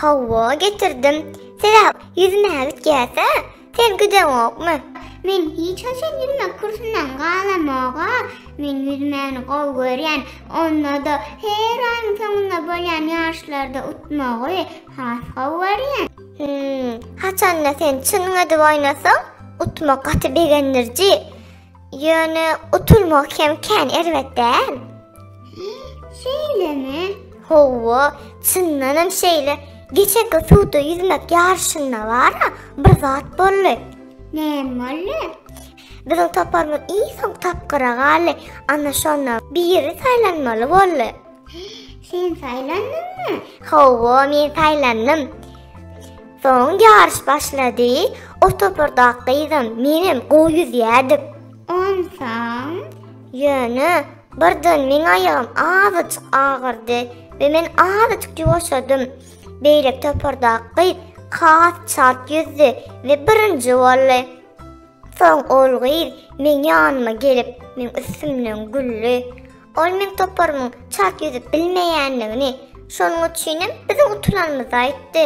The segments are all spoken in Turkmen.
Hawa, getirdim. Siz-ä ýüzmäge gitýäs-ä? Sen gideňokmy? Men hiç haçan ýüzmek kursyndan galamog-a. Men ýüzmäni gowy görýän. Onda-da her aýyň soňunda bolýan ýaryşlarda utmagy has gowy görýän. Hüm, haçan-da sen çynyň edip oýnasaň, utmak gaty begendiriji. Ýöne utulmak hem kän erbet däl. Şeýlemi? Hawa, çyndan hem şeýle. Geçenki suwda ýüzmek ýaryşynda bara bir zat boldy. Näme boldy? Biziň toparymyz iň soň tapgyra galdy. Ana şonda biri saýlanmaly boldy. Sen saýlandyňmy? Hawa, men saýlandym. Soň ýaryş başlady. O topardaky gyzam, menem gowy ýüzýärdik. Onsoň? Ýöne birden meň aýagym azajyk agyrdy we men azajyk ýuwaşadym. Beýleki topardaky gyz has çalt ýüzdi we birinji boldy. Soň ol gyz meň ýanyma gelip, meň üstümden güldi. Ol meň toparymyň çalt ýüzüp bilmeýändigini, şonuň üçinem biziň utulanymyzy aýtdy.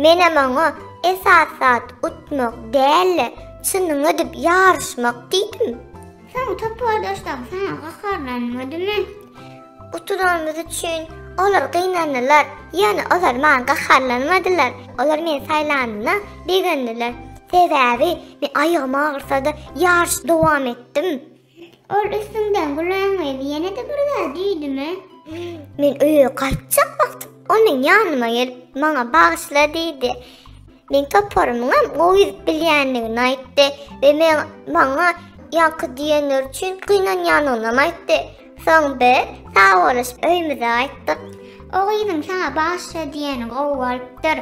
Menem oňa esas zat utmak däl-de, çynyňy edip ýaryşmak diýdim. Soň topardaşlaryň saňa gaharlanmadymy? Utulanymyz üçin olar gynandylar, ýöne olar maňa gaharlanmadylar. Olar meni saýlanyna begendiler. Sebäbi men aýagym agyrsa-da ýaryşy dowam etdim. Ol üstüňden gulaň öýli ýene-de bir zat düýdümi? Men öýe gaýtjak wagtym ol meň ýanyma gelip, maňa bagyşla diýdi. Meň toparymyňam gowy ýüzüp bilýändigini aýtdy we men maňa ýaňky diýenleri üçin gynanýanynam aýtdy. Soň biz sagbolaşyp öýümize gaýtdyk. O gyzyň saňa bagyşla diýeni gowy bolupdyr.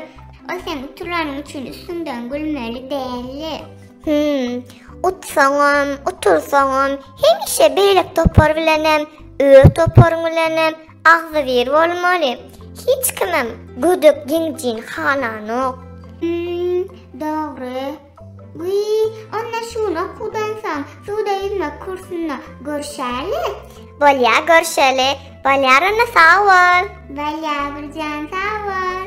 Ol sen utulanyň üçin üstüňden gülmeli däldi. Hümm. Utsaňam, utursaňam, hemişe beýlek topar bilenem, öz toparyň bilenem agzybir bolmaly. Hiç kimem gödek jeňjini halanok. Hümm, dogry. Wiý, onda şuny okudansoň, suwda ýüzmek kursunda görşäli. Bolýa, görşeli. Bolýar onda, sag bol. Bolýa, Birjan, sag bol.